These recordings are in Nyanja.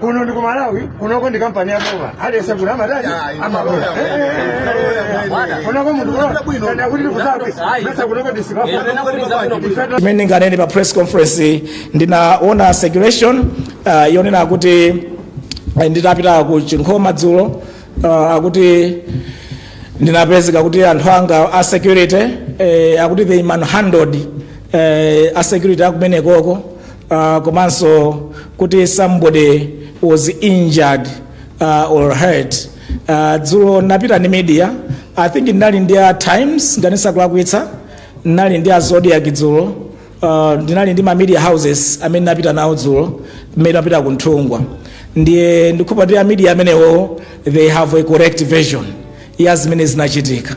kuno ndi ku malawi kunoko ndi kampani ya boma aliyese kuno amatani amalola kunoko munthu kulola kana kuti ndi kuzabe mesa kunoko ndisikafa imene ndinganene pa press conference ndinaona circulation uh, yonena akuti eh, nditapita ku chinkhoma dzulo uh, akuti ndinapezeka kuti anthu anga a security eh, akuti they manhandled eh, a security akumenekoko uh, komanso kuti somebody was injured uh, or hurt uh, dzulo ndinapita ndi media i think ndinali ndi a times ngati sindikulakwitsa ndinali ndi a zodiac dzulo uh, ndinali ndi ma media houses amene ndinapita nawo dzulo mmene ndinapita ku nthungwa ndiye ndikhulupira kuti a media amenewo they have a correct version ya zimene zinachitika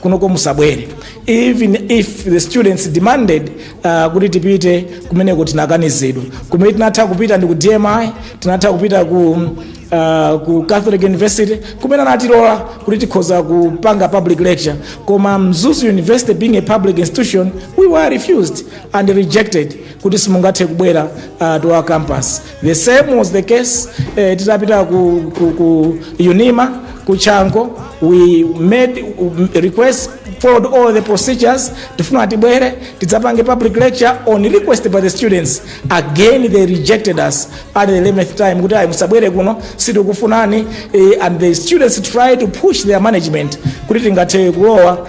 kunoko musabwere even if the students demanded uh, kuti tipite kumeneko tinakanizidwa kumene tinatha kupita ndi ku dmi tinatha kupita ku uh, ku catholic university kumene anatilola kuti tikhoza kupanga public lecture koma mzuzu university being a public institution we were refused and rejected kuti simungathe kubwera uh, to our campus The same was the case eh, titapita ku, ku, ku unima ku chanco we made um, request followed all the procedures tifuna tibwere tidzapange public lecture on request by the students again they rejected us at the 11th time kuti ayi musabwere kuno sitikufunani eh, and the students try to push their management kuti tingathe kulowa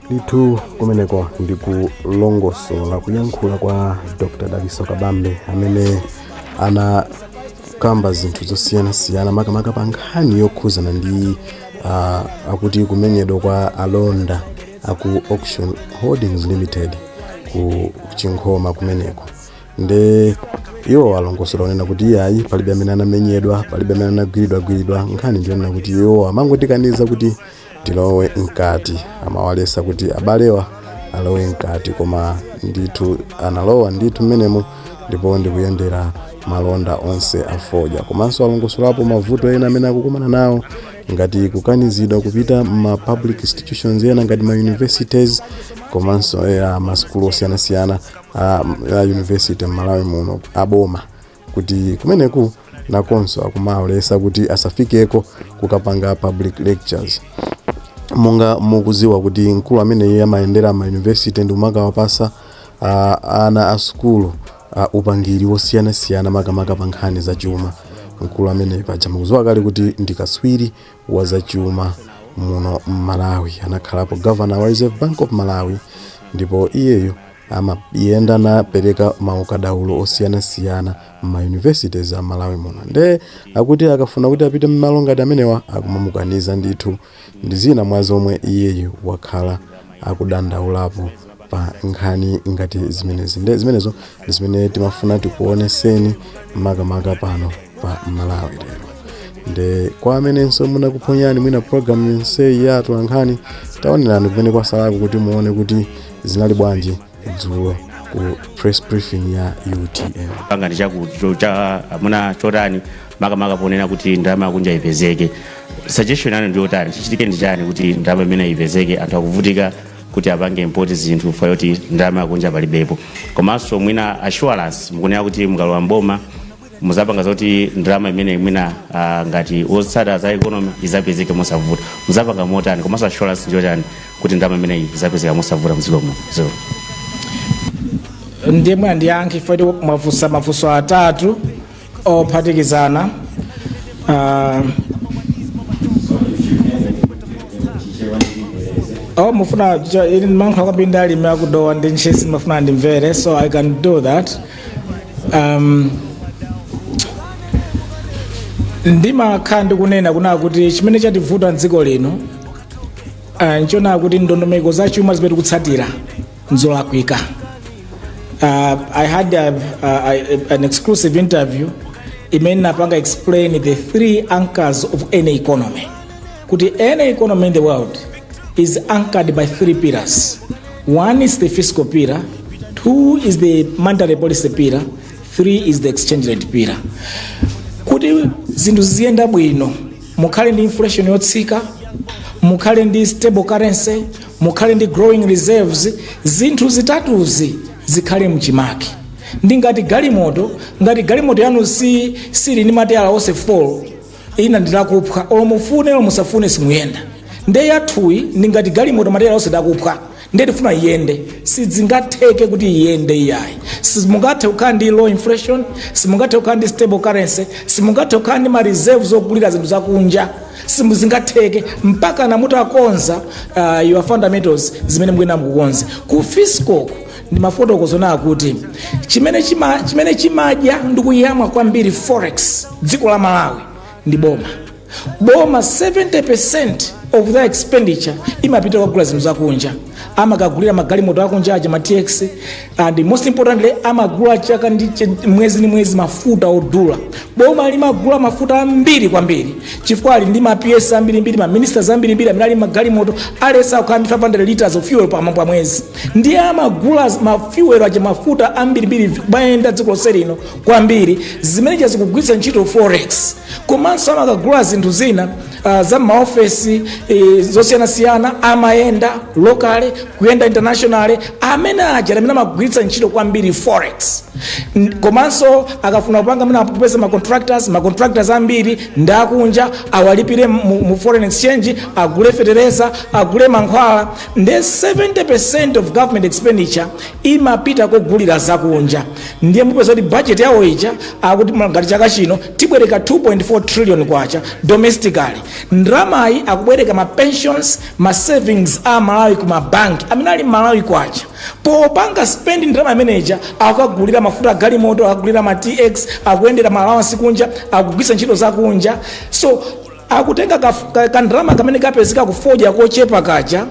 ndithu kumeneko ndi kulongosola kuyankhula kwa dr dalitso kabambe amene anakamba zinthu zosiyanasiyana makamaka pa nkhani yokhuzana ndi ah, akuti kumenyedwa kwa alonda aku auction holdings limited ku chinkhoma kumeneko nde iwo alongosola kunena kuti iyayi palibe amene anamenyedwa palibe amene anagwiridwagwiridwa nkhani ndiyonena kuti iwo amangotikaniza kuti tilowe mkati amawalesa kuti abalewa alowe mkati koma ndithu analowa ndithu mmenemo ndipo ndikuyendera malonda onse afodya komanso alongosolapo mavuto ena amene akukumana nawo ngati kukanizidwa kupita ma public institutions ena ngati ma universities komanso masukulu osiyanasiyana a, a university m'malawi muno aboma kuti kumeneko nakonso akumawalesa kuti asafikeko kukapanga public lectures monga mukuziwa kuti mkulu ameneyi amayendera ma university ndi kumakawapasa uh, ana a sukulu uh, upangiri wosiyanasiyana makamaka pa nkhani za chuma mkulu ameneyi paja mukuziwa kale kuti ndi kaswiri wa za chuma muno mmalawi anakhalapo governor wa reserve bank of malawi ndipo iyeyo amayenda nkumapereka maukadaulo osiyanasiyana mma universities a Malawi muno nde akuti akafuna kuti apite mmalo ngati amenewa akumamukaniza ndithu ndi zina mwa zomwe iyeyu wakhala akudandaulapo pa nkhani ngati zimenezi nde zimenezo ndi zimene timafuna tikuoneseni makamaka pano pa Malawi lero nde kwa amenenso inakuphonyani mwina programu yonseyi ya atolankhani taonerani kumene kwasalako kuti muone kuti Zinali bwanji dzulo ku press briefing ya utm? pangani chamuna chotani makamaka ponena kuti ndalama yakunja ipezeke suggestion yanu ndi yotani chichitike ndi chani kuti ndalama imeneyi ipezeke anthu akuvutika kuti apange import zinthu fa yoti ndalama yakunja palibepo komanso mwina assurance mukunena kuti mukalowa mboma muzapanga zoti ndalama imene mwina ah, ngati otsata za economy izapezeke mosavuta muzapanga motani komanso assurance njotani kuti ndalama imeneyi izapezeka mosavuta mdziko muno so ndiye mwina ndiyankhe chifukwa kuti mwafunsa mafunso atatu ophatikizana Ah, oh mufuna cho- ili ndimalankhula kwambiri ndi alimi aku dowa ndi ntchisi ndimafuna andimvere so i can do that um, ndimakhala ndikunena kunena kuti chimene chativuta mdziko lino uh, nchonena kuti ndondomeko za chuma zimene tikutsatira nzolakwika uh, i had a, a, a, an exclusive interview imene napanga explain the three anchors of any economy kuti any economy in the world is anchored by three pillars One is the fiscal pillar, two is the monetary policy pillar, three is the exchange rate pillar. Kuti zinthu ziziyenda bwino, mukhale ndi inflation yotsika, mukhale ndi stable currency, mukhale ndi growing reserves, zinthu zitatuzi zikhale mchimake. Ndi ngati galimoto, ngati galimoto yanu si sili ndi mateyala onse 4 ina ndilakuphwa olo mufune olo musafune simuyenda nde yathuyi ndi ngati galimoto mateyala onse ndakuphwa nde tifuna iyende sidzingatheke kuti iyende iyayi simungathe kukhala ndi low inflation simungathe kukhala ndi stable currency simungathe kukhala ndi ma reserves ogulira zinthu zakunja simuzingatheke mpakana mutakonza uh, your fundamentals zimene mukuyenera kukonza ku fiscal ndimafotokoza kunena kuti chimene chima chimene chimadya ndi kuyamwa kwambiri forex dziko la malawi ndi boma boma 70% of their expenditure imapita kukagula zinthu zakunja amakagulira magalimoto akunja aja ma tx and most importantly amagula chaka ndi ch- mwezi ndi mwezi mafuta odula boma limagula mafuta ambiri kwambiri chifukwa ali ndi ma ps ambirimbiri ma ministers ambirimbiri amene ali magalimoto alesa kukhala ndi 500 liters of fuel pa mwezi ndiye amagula ma fuel aja mafuta ambirimbiri kumayenda dziko lonse lino kwambiri zimene cha zikugwiritsa ntchito forex komanso amakagula zinthu zina uh, za maofesi e, zosiyanasiyana amayenda locally kuyenda internationally amene aja amene amagwiritsa ntchito kwambiri forex N- komanso akafuna kupanga amene akupeza ma contractors ma contractors ambiri ndi akunja awalipire mu, mu foreign exchange agule fetereza agule mankhwala nde 70% of government expenditure imapita kogulira zakunja ndiye mupeza kuti budget yawo ija akuti ngati chaka chino tibwereka 2.4 trillion kwacha domestically ndramayi akubwereka ma pensions ma savings a malawi ku mabanki amene ali mmalawi kwacha popanga spend ndrama imeneja akagulira mafuta agalimoto akagulira ma tx akuyendera ma allowance kunja akugwisa ntchito zakunja so akutenga kandalama kamene kapezeka kufodya kochepa kaja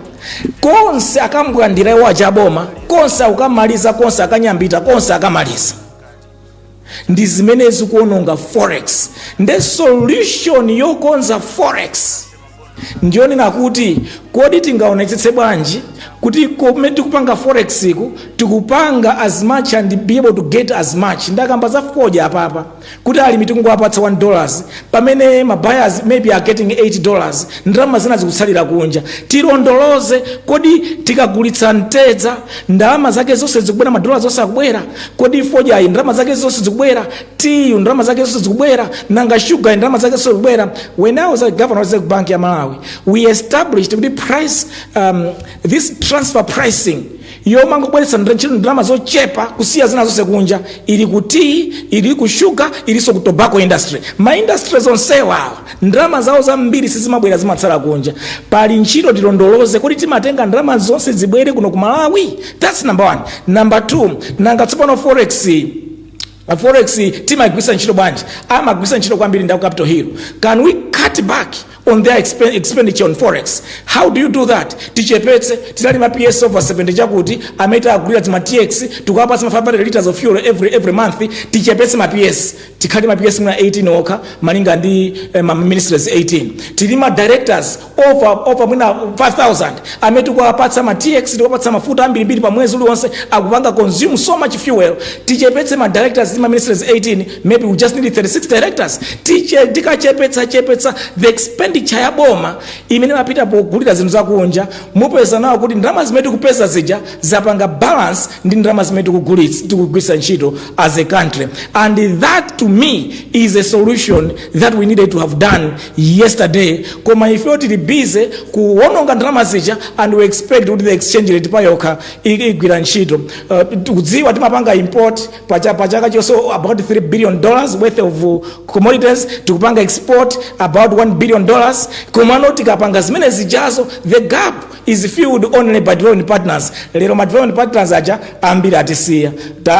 konse akambwandira iwo achaboma konse akamaliza konse akanyambita konse akamaliza ndi zimene zikuononga forex nde solution yokonza forex ndiyonena kuti kodi tingaonetsetse bwanji kuti kumene tikupanga forex ku tikupanga as much and be able to get as much ndakamba za fodya apapa kuti alimi tikungowapatsa 1 dollars pamene ma buyers maybe are getting 8 dollars ndalama zina zikutsalira kunja tilondoloze kodi tikagulitsa mtedza ndalama zake zonse zikubwera madolas onse akubwera kodi fodyayi ndalama zake zonse zikubwera tiyu ndalama zake zonse zikubwera nanga shuga ndalama zake zonse zikubwera when i was a governor of reserve bank ya malawi we established the price this transfer pricing yomangobweretsa ntchito ndalama zochepa kusiya zina zonse kunja ili ku tea ili ku shuga ilinso ku tobacco industry ma industry onsewa awa ndalama zawo zambiri sizimabwera zimatsala kunja pali ntchito tilondoloze kuti timatenga ndalama zonse zibwere kuno ku malawi that's number one number two nanga tsopano forex Forex timaigwisa ntchito bwanji? Amagwisa ntchito kwambiri ndi aku Capital Hill. Can we cut back on their expen- expenditure on forex? How do you do that? Tichepetse tili ndi ma PS over 70 chakuti ameta agulira ma TX tikuwapatsa ma 500 liters of fuel every month tichepetse ma PS tikhale ma PS mwina 18 okha malinga ndi ma ministries 18 tili ndi ma directors over mwina 5000 amene tikuwapatsa ma tx tikuwapatsa mafuta ambirimbiri pa mwezi uliwonse akupanga consume so much fuel tichepetse ma directors ma ministries 18 maybe we just need 36 directors tikachepetsa chepetsa the expenditure ya boma imene imapita pogulira zinthu zakunja mupeza now kuti ndalama zimene tikupeza zija zapanga balance ndi ndalama zimene tikugwiritsa ntchito as a country and that to me is a solution that we needed to have done yesterday koma ifeyo tili busy kuwononga ndalama zija and we expect kuti the exchange rate payokha igwira ntchito tikudziwa timapanga import pachaka chonse about 3 billion dollars worth of commodities tikupanga export about 1 billion dollars komano tikapanga zimene zijazo the gap is filled only by development partners lero ma development partners aja ambiri atisiya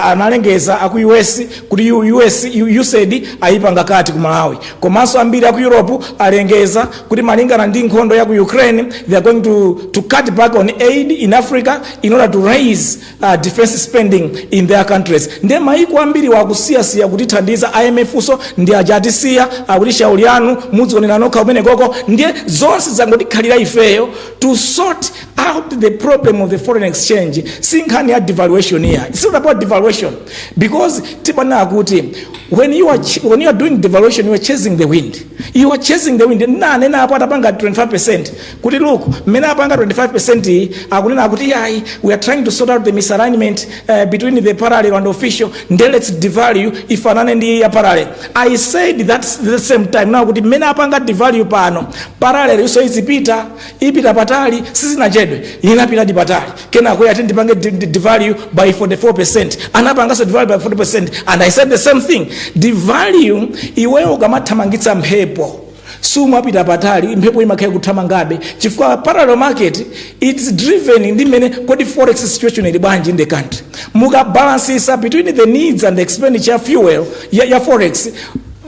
analengeza aku us kuti U- us U- usaid ayipanga cut ku malawi komanso ambiri aku europe alengeza kuti malingana ndi nkhondo ya ku ukraine they are going to, to cut back on aid in africa in order to raise uh, defense spending in their countries nde maiko ambiriwo akusiyasiya kutithandiza IMF nso ndi aja atisiya akuti shauli yanu mudzionera nokha kumene koko ndiye zonse zangotikhalira ifeyo to sort out the problem of the foreign exchange si nkhani ya devaluation iya it's not about devaluation because timanena kuti when you are, ch- when you are doing devaluation you are chasing the wind you are chasing the wind nanena apo atapanga 25 percent kuti look mmene apanga 25% iyi akunena kuti yayi we are trying to sort out the misalignment uh, between the parallel and official nde let's devalue ifanane ndi ya parallel i said at the same time now kuti mmene apanga devalue pano parallel yonso izipita ipita patali sizinachedwe inapitadi patali kenako ati tipange di- di- devalue by 44% anapangaso devalue by 40% and i said the same thing devalue iweyo ukamathamangitsa mphepo sumapita patali mphepo imakhala ikuthamangabe chifukwa parallel market is driven ndi mmene kodi forex situation ili bwanji in the country mukabalansisa between the needs and the expenditure ya fuel ya, ya forex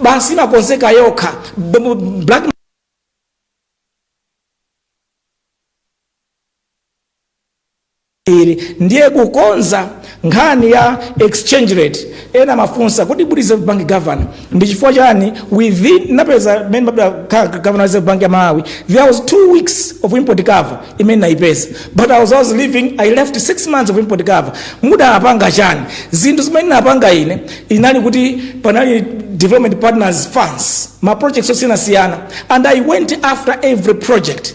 basi imakonzeka yokha B- b- black ili ndiye kukonza nkhani ya exchange rate ena amafunsa kuti kodi reserve bank governor ndi chifukwa chani within napeza mmene mumakhala ka- ka- governor wa reserve bank ya malawi there was two weeks of import cover imene naipeza but i was, I was leaving i left six months of import cover mudapanga chani zinthu zimene napanga ine inali kuti panali development partners funds ma projects osiyanasiyana and i went after every project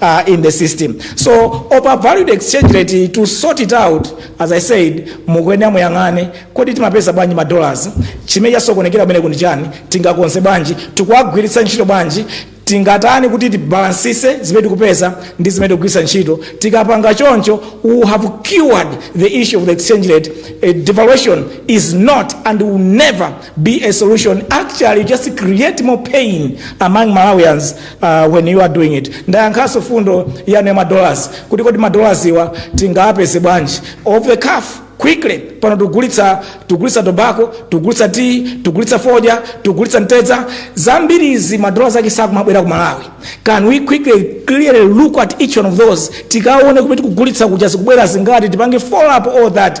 uh, in the system so overvalued exchange rate to sort it out as i said mukuyenera muyang'ane kodi timapeza bwanji ma dollars chimene chasokonekera kumeneku ndi chani tingakonze bwanji tikuwagwiritsa ntchito bwanji tingatani kuti tibalansise zimene tikupeza ndi zimene tikugwiritsa ntchito tikapanga choncho we have cured the issue of the exchange rate uh, devaluation is not and will never be a solution actually just create more pain among malawians uh, when you are doing it ndayankhaso fundo yanu ya madollars kuti kodi madollars awa tingawapeze bwanji off the cuff quickly pano tikugulitsa tikugulitsa tobacco tikugulitsa tea tikugulitsa fodya tikugulitsa mtedza zambiri izi madollars ake sakumabwera ku malawi can we quickly clearly look at each one of those tikaone kuti tikugulitsa kuja zikubwera zingati tipange follow up all that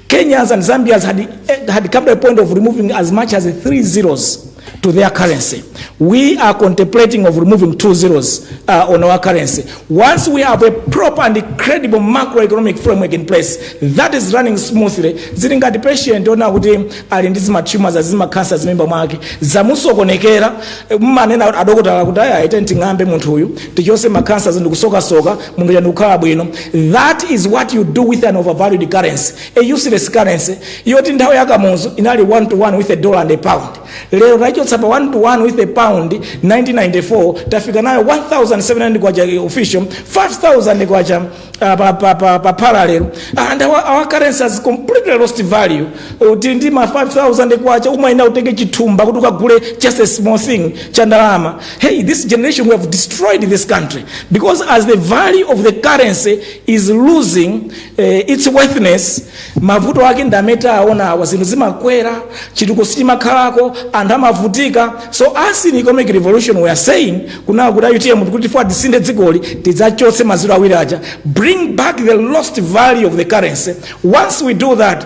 Kenyans and Zambians had, eh, had come to a point of removing as much as three zeros to their currency. We are contemplating of removing two zeros uh, on our currency. Once we have a proper and credible macroeconomic framework in place that is running smoothly, zili ngati patient ona kuti ali ndi zima tumors azima cancer zimimba mwake zamusokonekera eh, mmanena adokotala kuti aya ite nting'ambe munthu uyu tichose ma cancers ndikusokasoka munthu uja ndikukhala bwino that is what you do with an overvalued currency a useless currency yoti nthawi ya kamuzu inali 1 to 1 with a dollar and a pound lero taichotsa pa 1 to 1 with a pound 1994 tafika nayo 1700 kwacha official 5000 kwacha uh, pa, pa, pa, pa parallel and our, our currency has completely lost value uli ndi ma 5000 kwacha umayenera utenge chithumba kuti ukagule just a small thing cha ndalama hey, this generation we have destroyed this country because as the value of the currency is losing uh, its worthiness mavuto ake ndi amene tawaona awa zinthu zimakwera chitukuko sichimakhalako anthu amavutika so us in economic revolution we are saying kunena kuti a utm kuti tikufuna tisinthe dzikoli tidzachotse maziro awiri aja bring back the lost value of the currency once we do that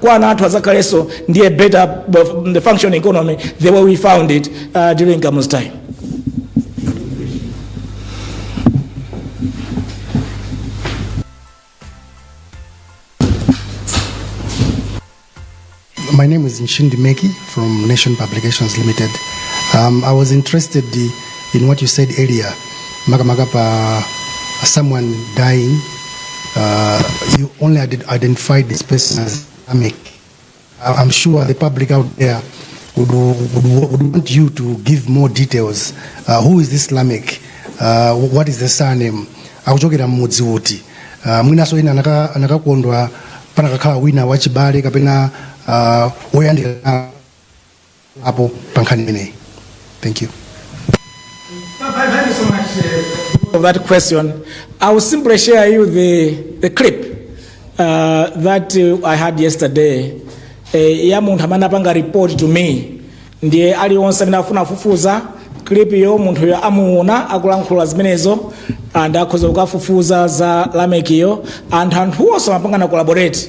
kwa ana athu adzakhalenso ndi a better uh, functioning economy the way we found it uh, during Kamu's time My name is Nshindi Meki from Nation Publications Limited. Um, I was interested in what you said earlier makamaka pa someone dying uh, you only ident- identified this person as Islamic. I- I'm sure the public out there would, would, would want you to give more details. Uh, who is this Lamek? Uh, what is the surname? akuchokera mmudzi uti uh, mwinaso ena anaka- anakakondwa panakakhala wina wachibale kapena uh, woyandikana apo pa nkhani imeneyi thank you so much for that question. I will simply share you the, the clip uh, that uh, I had yesterday. Eh, ya munthu amene anapanga report to me ndiye aliyense amene afuna kufufuza clip yo munthu yo amuona akulankhula zimenezo and akhoza kukafufuza za lameki yo and anthu onse amapanga collaborate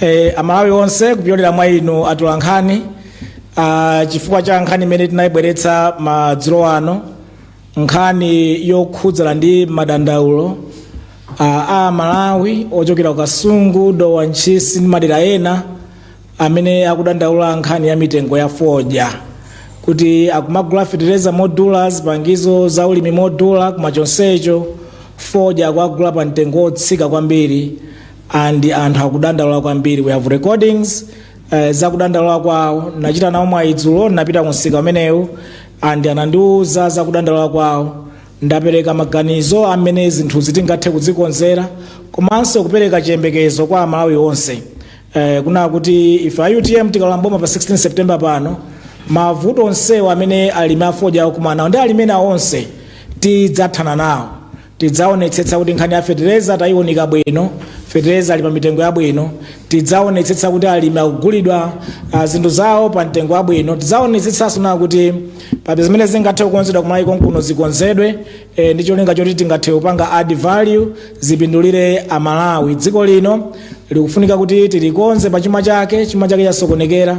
Eh, amalawi onse kupyolera mwa inu atolankhani ah, chifukwa cha nkhani imene tinayibweretsa madzulo ano nkhani yokhudzana ndi madandaulo ah, a amalawi ochokera ku kasungu dowa ntchisi ndi madera ena amene akudandaula nkhani ya mitengo ya fodya kuti akumagula fetereza modula zipangizo za ulimi modula koma chonsecho fodya akuagula pa mtengo wotsika kwambiri and anthu akudandaula kwambiri we have recordings uh, zakudandaula kwawo ndachita nawo mwayi dzulo ndapita kumsika umenewo and anandiuza zakudandaula kwawo ndapereka maganizo a mmene zinthuzi tingathe kuzikonzera komanso kupereka chiyembekezo kwa amalawi onse eh, kunena kuti ife a utm tikalowa mboma pa 16 september pano mavuto onsewo amene alimi afodya akumana nawo ndi alimi ena onse tidzathana nawo Tidzaonetsetsa kuti nkhani ya fetereza tayiunika bwino, fetereza ali pa mitengo yabwino. Tidzaonetsetsa kuti alimi akugulidwa ah, zinthu zawo pa mtengo wabwino. Tidzaonetsetsanso kunena kuti pa zimene zingathe kukonzedwa kumalawi konkuno zikonzedwe eh, ndi cholinga choti tingathe kupanga add value zipindulire amalawi. Dziko lino likufunika kuti tilikonze pa chuma chake, chuma chake chasokonekera.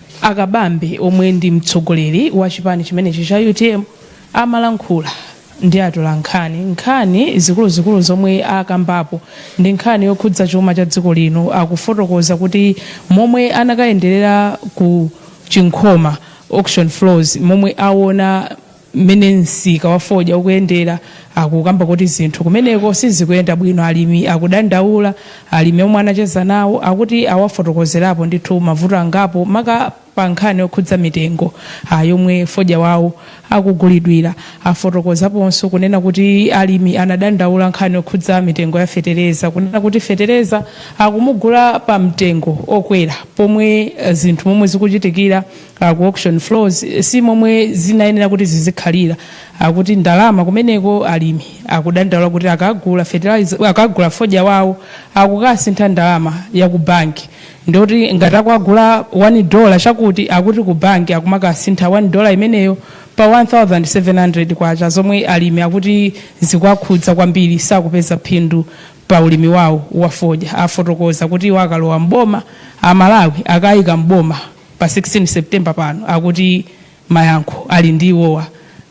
A Kabambe omwe ndi mtsogoleri wa chipani chimenechi cha utm amalankhula ndi atolankhani nkhani zikuluzikulu zomwe akambapo ndi nkhani yokhudza chuma cha dziko lino akufotokoza kuti momwe anakayenderera ku Chinkhoma auction floors momwe awona Mmene msika wa fodya ukuyendera akukamba kuti zinthu kumeneko sizikuyenda bwino alimi akudandaula. Alimi omwe anacheza nawo akuti awafotokozerapo ndithu mavuto angapo maka pa nkhani yokhudza mitengo yomwe fodya wawo akugulidwira. Afotokozaponso kunena kuti alimi anadandaula nkhani yokhudza mitengo ya fetereza kunena kuti fetereza akumugula pa mtengo okwera pomwe zinthu momwe zikuchitikira ka ku auction floors si momwe zinayenera kuti zizikhalira akuti ndalama kumeneko alimi akudandaula kuti akagula fertilizer akagula fodya wawo akukasintha ndalama ya ku banki ndoti ngati akugula 1 dollar chakuti akuti ku banki akumakasintha 1 dollar imeneyo pa 1700 kwacha zomwe alimi akuti zikuwakhudza kwambiri sakupeza phindu pa ulimi wawo wa fodya afotokoza kuti iwo akalowa mboma amalawi akaika mboma pa 16 September pano akuti mayankho ali ndi iwowa.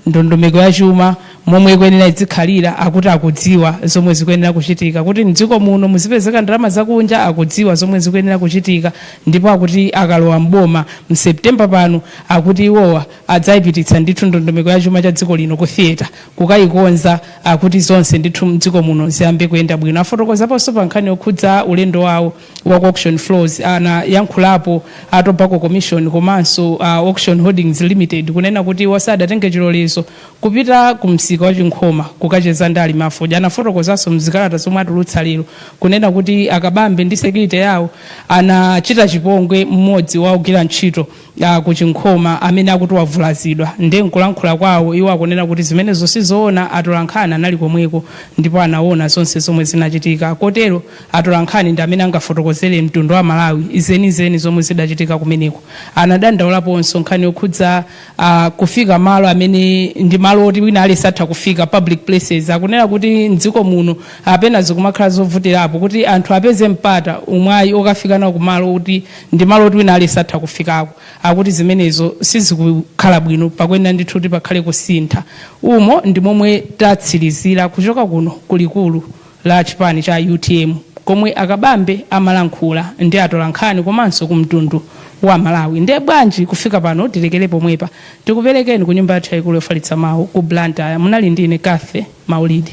Ndondomeko ya chuma momwe ikuyenera idzikhalira akuti akudziwa zomwe zikuyenera kuchitika. Kuti m'dziko muno muzipezeka ndalama zakunja akudziwa zomwe zikuyenera kuchitika ndipo akuti akalowa m'boma mu September pano akuti iwowa adzaipititsa ndithu ndondomeko ya chuma cha dziko lino ku theatre kukaikonza akuti zonse ndithu m'dziko muno ziyambe kuyenda bwino. Afotokozaponso pa nkhani yokhudza ulendo wawo. wa ku auction floors anayankhulapo a tobacco commission komanso a auction holdings limited kunena kuti iwo sadatenge chilolezo kupita ku msika wa chinkhoma kukacheza ndi alimi afodya anafotokozanso mzikalata zomwe atulutsa lero kunena kuti akabambe ndi security yawo anachita chipongwe mmodzi wa ogwira ntchito ah, ku chinkhoma amene akuti wavulazidwa nde nkulankhula kwawo iwo akunena kuti zimenezo sizoona atolankhani anali komweko ndipo anaona zonse zomwe zinachitika kotero Atolankhani ndi amene angafotokozere mtundu wa Amalawi zenizeni zomwe zidachitika kumeneko. Anadandaulaponso nkhani yokhudza a kufika malo amene ndi malo oti wina aliyense atha kufika, public places. Akunena kuti m'dziko muno a pena zikumakhala zovutirapo kuti anthu apeze mpata, umwayi okafika nawo kumalo oti ndi malo oti wina aliyense atha kufikako. Akuti zimenezo sizikukhala bwino, pakuyenera ndithu kuti pakhale kusintha. Umo ndi momwe tatsirizira kuchoka kuno ku likulu. la chipani cha utm komwe a Kabambe amalankhula ndi atolankhani komanso ku mtundu wa Malawi. Nde bwanji kufika pano tilekere pomwepa. Tikuperekeni ku nyumba yathu yaikulu yofalitsa mawu ku Blantyre. Munali ndi ine Cathy Maulidi.